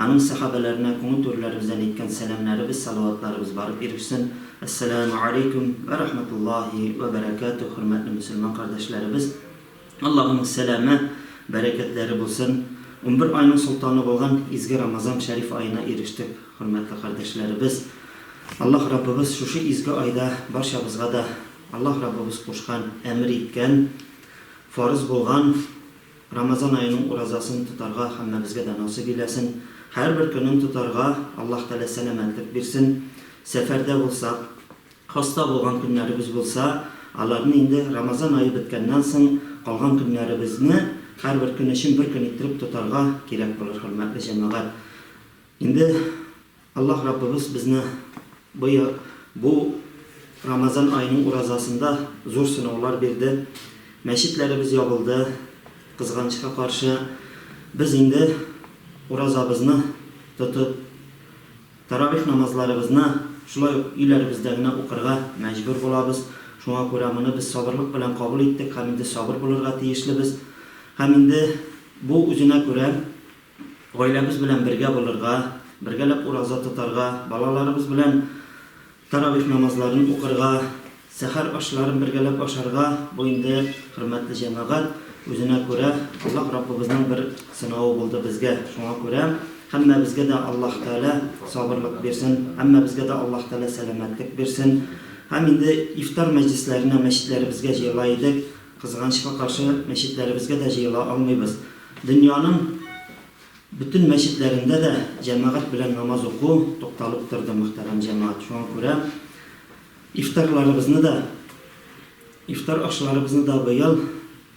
Аның сәхабәләренә күңел түреләребездән әйткән сәламнәребез, салаватларыбыз барып ирешсен. Әссәләмү алейкүм вә рахматуллаһи вә бәрәкәтүһ, хөрмәтле мөселман кардәшләребез! Аллаһының сәламе, бәрәкәтләре булсын! Унбер айның солтаны булган изге Рамазан шәриф аена ирештек, хөрмәтле кардәшләребез! Аллаһ Раббыбыз шушы изге айда барчабызга да Аллаһ Раббыбыз кушкан, әмер иткән, фарыз булган, Рамазан аеның уразасын тотарга һәммәбезгә дә насыйп иләсен, һәрбер көнен тотарга Аллаһ Тәгалә сәламәтлек бирсен. Сәфәрдә булсак, хаста булган көннәребез булса, аларны инде Рамазан ае беткәннән соң калган көннәребезне һәрбер көн өчен бер көн иттереп тотарга кирәк булыр, хөрмәтле җәмәгать. Инде Аллаһ Раббыбыз безне быел бу Рамазан аеның уразасында зур сынаулар бирде. Мәчетләребез ябылды, кызганычка каршы. Без инде уразабызны тотып, таравих намазларыбызны шулай ук өйләребездә генә укырга мәҗбүр булабыз. Шуңа күрә моны без сабырлык белән кабул иттек һәм инде сабыр булырга тиешлебез. Һәм инде бу үзенә күрә Гаиләбез белән бергә булырга, бергәләп ураза тотарга, балаларыбыз белән таравих намазларын укырга, сәхәр ашларын бергәләп ашарга, бу инде, хөрмәтле җәмәгать, үзенә күрә Аллаһ Раббыбызның бер сынавы булды безгә. Шуңа күрә һәммәбезгә дә Аллаһ Тәгалә сабырлык бирсен, һәммәбезгә дә Аллаһ Тәгалә сәламәтлек бирсен. Һәм инде ифтар мәҗлесләренә мәчетләребезгә җыела идек, Кызганычка каршы, мәчетләребезгә дә җыела алмыйбыз. Дөньяның бөтен мәчетләрендә дә җәмәгать белән намаз уку тукталып торды, мөхтәрәм җәмәгать. Шуңа күрә ифтарларыбызны да, ифтар ашларыбызны да быел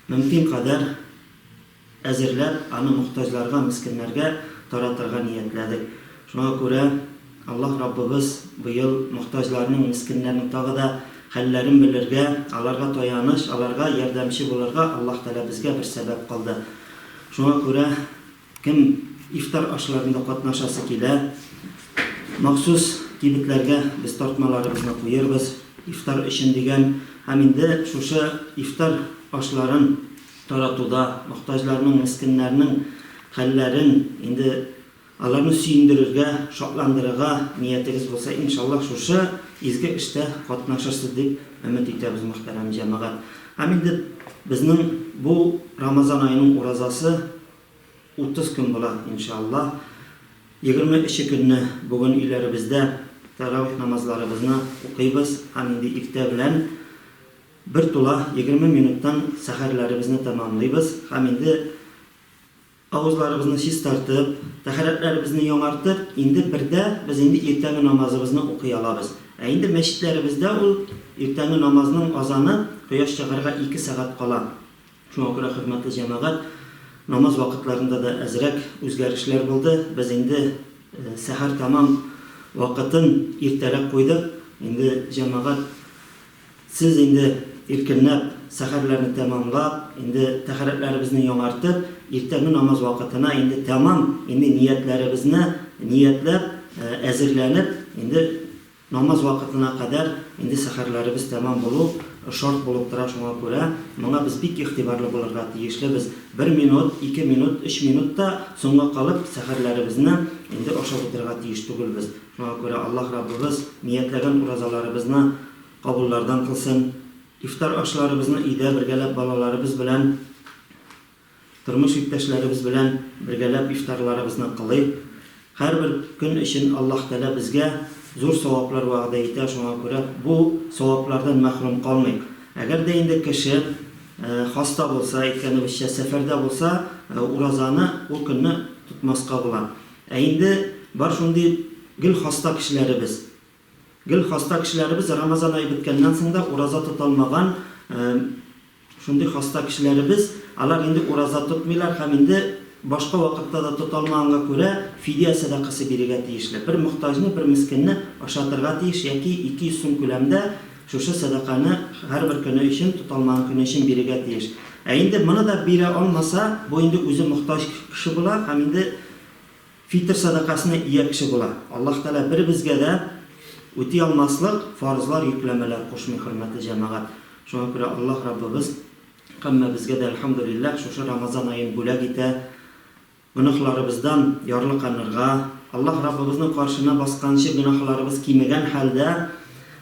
мөмкин кадәр, әзерләп, аны мохтаҗларга, мескеннәргә таратырга ниятләдек. Шуңа күрә Аллаһ Раббыбыз быел мохтаҗларның, мескеннәрнең тагы да хәлләрен белергә, аларга таяныч, аларга ярдәмче булырга Аллаһ Тәгалә безгә бер сәбәп кылды. Шуңа күрә кем ифтар ашларында катнашасы килә, махсус кибетләргә без тартмаларыбызны куербыз, ифтар өчен дигән. Һәм инде шушы ифтар ашларын. таратуда, мохтаҗларның, мескеннәрнең хәлләрен, инде аларны сөендерергә, шатландырырга ниятегез булса, иншаллаһ, шушы изге эштә катнашырсыз дип өмет итәбез, мөхтәрәм җәмәгать. Һәм инде безнең бу Рамазан аеның уразасы 30 көн була, иншаллаһ. Егерме өче көнне бүген өйләребездә тәравих намазларыбызны укыйбыз һәм инде иртә белән, Бер тула, егерме минуттан сәхәрләребезне тәмамлыйбыз һәм инде авызларыбызны чистартып, тәһарәтләребезне яңартып, инде бердә без инде иртәнге намазыбызны укый алабыз. Ә инде мәчетләребездә ул иртәнге намазның азаны кояш чыгарга ике сәгать кала. Шуңа күрә, хөрмәтле җәмәгать, намаз вакытларында да әзрәк үзгәрешләр булды. Без инде сәхәр тәмам вакытын иртәрәк куйдык. Инде җәмәгать Сез инде иркенләп сәхәрләрне тәмамлап, инде тәһарәтләребезне яңартып, иртәнге намаз вакытына инде тәмам инде ниятләребезне ниятләп, әзерләнеп, инде намаз вакытына кадәр инде сәхәрләребез тәмам булу шарт булып тора, шуңа күрә моңа без бик игътибарлы булырга тиешлебез. Бер минут, ике минут, өч минут та соңга калып сәхәрләребезне инде ашап утырырга тиеш түгелбез. Шуңа күрә Аллаһ Раббыбыз ниятләгән уразаларыбызны кабуллардан кылсын, ифтар ашларыбызны өйдә бергәләп балаларыбыз белән, тормыш иптәшләребез белән бергәләп ифтарларыбызны кылыйк. Һәрбер көн өчен Аллаһ Тәгалә безгә зур саваплар вәгъдә итә, шуңа күрә бу саваплардан мәхрүм калмыйк. Әгәр дә инде кеше хаста булса, әйткәнебезчә, сәфәрдә булса, уразаны, ул көнне тотмаска була. Ә инде бар шундый гел хаста кешеләребез. Гел хаста кешеләребез, Рамазан ае беткәннән соң да ураза тота алмаган шундый хаста кешеләребез, алар инде ураза тотмыйлар һәм инде башка вакытта да тота алмаганга күрә, фидия сәдакасы бирергә тиешле. Бер мохтаҗны, бер мескенне ашатырга тиеш яки 200 сум күләмдә Шушы сәдаканы һәрбер көне өчен, тоталмаган көне өчен бирергә тиеш. Ә инде моны да бирә алмаса, бу инде үзе мохтаҗ кеше була һәм инде фитыр сәдакасына ия кеше була. Аллаһ Тәгалә беребезгә дә үти алмаслык фарызлар, йөкләмәләр кушмый, хөрмәтле җәмәгать. Шуңа күрә Аллаһ Раббыбыз һәммәбезгә дә, әлхәмдүлилләһ, шушы Рамазан аен бүләк итә. Гөнаһларыбыздан ярлыканырга, Аллаһ Раббыбызның каршына басканчы гөнаһларыбыз кимегән хәлдә,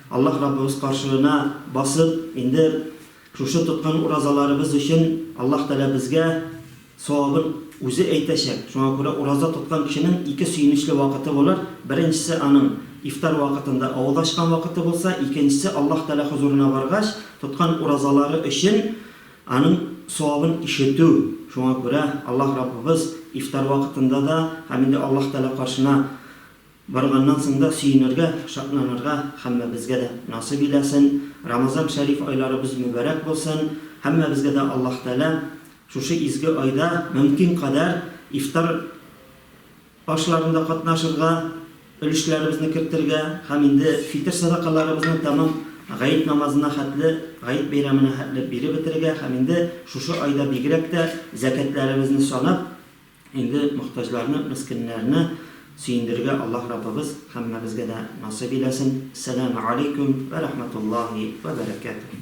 Аллаһ Раббыбыз каршына басып, инде шушы тоткан уразаларыбыз өчен Аллаһ Тәгалә безгә савабын Үзе әйтәчәк. Шуңа күрә ураза тоткан кешенең ике сөенечле вакыты булыр, беренчесе аның ифтар вакытында авыз ачкан вакыты булса, икенчесе Аллаһ Тәгалә хозурына баргач, тоткан уразалары өчен, Аның савабын ишетү, шуңа күрә Аллаһ Раббыбыз ифтар вакытында да һәм инде Аллаһ Тәгалә каршына барганнан соң да сөенергә, шатланырга һәммәбезгә дә насыйп иләсен, Рамазан шәриф айларыбыз мөбарәк булсын, һәммәбезгә дә Аллаһ Тәгалә шушы изге айда мөмкин кадәр ифтар ашларында катнашырга, өлешләребезне кертергә һәм инде фитер сәдакаларыбызны тәмам Гает намазына хәтле, Гает бәйрәменә хәтле биреп бетерергә һәм инде шушы айда бигрәк тә зәкятләребезне санап, инде мохтаҗларны, мескеннәрне сөендерергә Аллаһ Раббыбыз һәммәбезгә дә насыйп иләсен. Сәләмә алейкүм вә рәхмәтуллаһи вә бәрәкәтүһ.